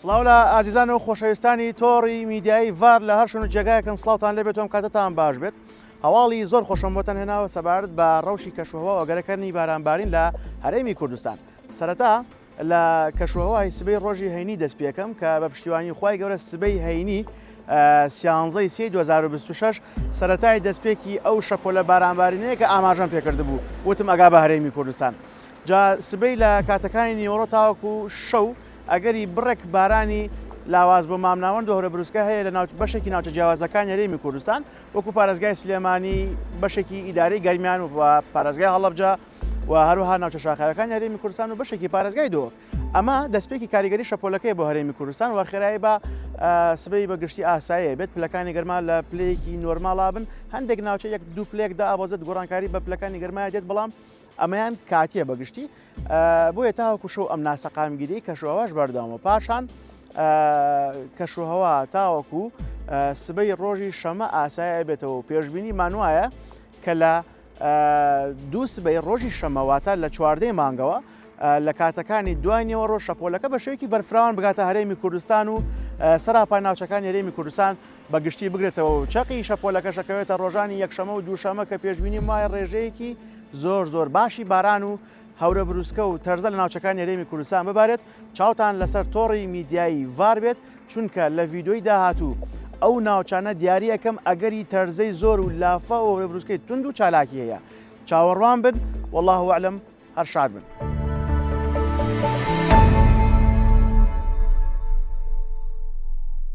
سڵاو لە ئازیزان و خۆشەویستانی تۆڕی میدیایی ڤار لە هەر شوێن و جێگایەکن سڵاوتان لێ بێتۆم کاتتان باش بێت هەواڵی زۆر خۆشم بۆتەن هێناوە سەبارەت بە ڕەوشی کەشوهوە ئۆگەرەکردنی بارانبارین لە هەرێمی کوردستان سەرەتا لە کەشوهوای سبەی ڕۆژی هەینی دەست پێکەم کە بە پشتیوانی خی گەورە سبەی هەینی سیانزەی سی 2026 سەتای دەستپێکی ئەو شەپۆلە بارانبارینەیە کە ئاماژەم پێکرد بوو وتم ئەگا بە هەرێمی کوردستان جا سبەی لە کاتەکانی نیوەڕۆ تاوەکو شەو ئەگەری بڕێک بارانی لاواز بۆ مامناوەند و هەورەبروسکە هەیە لە بەشێکی ناوچە جیاوازەکانی هەرێمی کوردستان وەکو پارێزگای سلێمانی بەشێکی ئیدارەی گەرمیان و پارێزگای هەڵەبجە و هەروها ناوچە شاخاوەکانی هەرێمی کوردستان و بەشێکی پارێزگای دۆ ئەمە دەستپێکی کاریگەری شەپۆلەکەی بۆ هەرێمی کوردستان و خێرایی بە سبەی بە گشتی ئاسایە بێت پلەکانی گەرما لە پلەیەکی نۆرماڵا بن هەندێک ناوچە یەک دوو پلێکدا ئابۆزت گۆڕانکاری بە پلەکانی گەرمایە دێت بەڵام ئەمەیان کاتییە بە گشتی بۆیە تاوەکو شەو ئەم ناسەقامگیری کەشوهواش بەردەوامە پاشان کەشوهوا تاوەکو سبەی ڕۆژی شەمە ئاسایە بێتەوە پێشببینی مانوایە کە لە دوو سبەی ڕۆژی شەمەواتە لە چواردەی مانگەوە لە کاتەکانی دوانیەوە ڕۆژ شەپۆلەکە بە شێوکی بەرفراوان بگاتە هەرێمی کوردستان و سەراپای ناوچەکان هەرێمی کوردستان بە گشتی بگرێتەوە و چەقی شەپۆلەکەش ئەکەوێتە ڕۆژانی یەکشەمە و دووشەمە کە پێشبینیم وایە ڕێژەیەکی زۆر زۆر باشی باران و هەورە بروسکە و تەرزە لە ناوچەکانی هەرێمی کوردستان ببارێت چاوتان لەسەر تۆڕی میدیایی ڤار بێت چونکە لە ڤیدۆی داهاتوو ئەو ناوچانە دیاری ئەەکەم ئەگەری تەرزەی زۆر و لافە و هەورەبروسکەی تونند و چالاکی هەیە چاوەڕوان بن والله وعلم هەر شاد بن.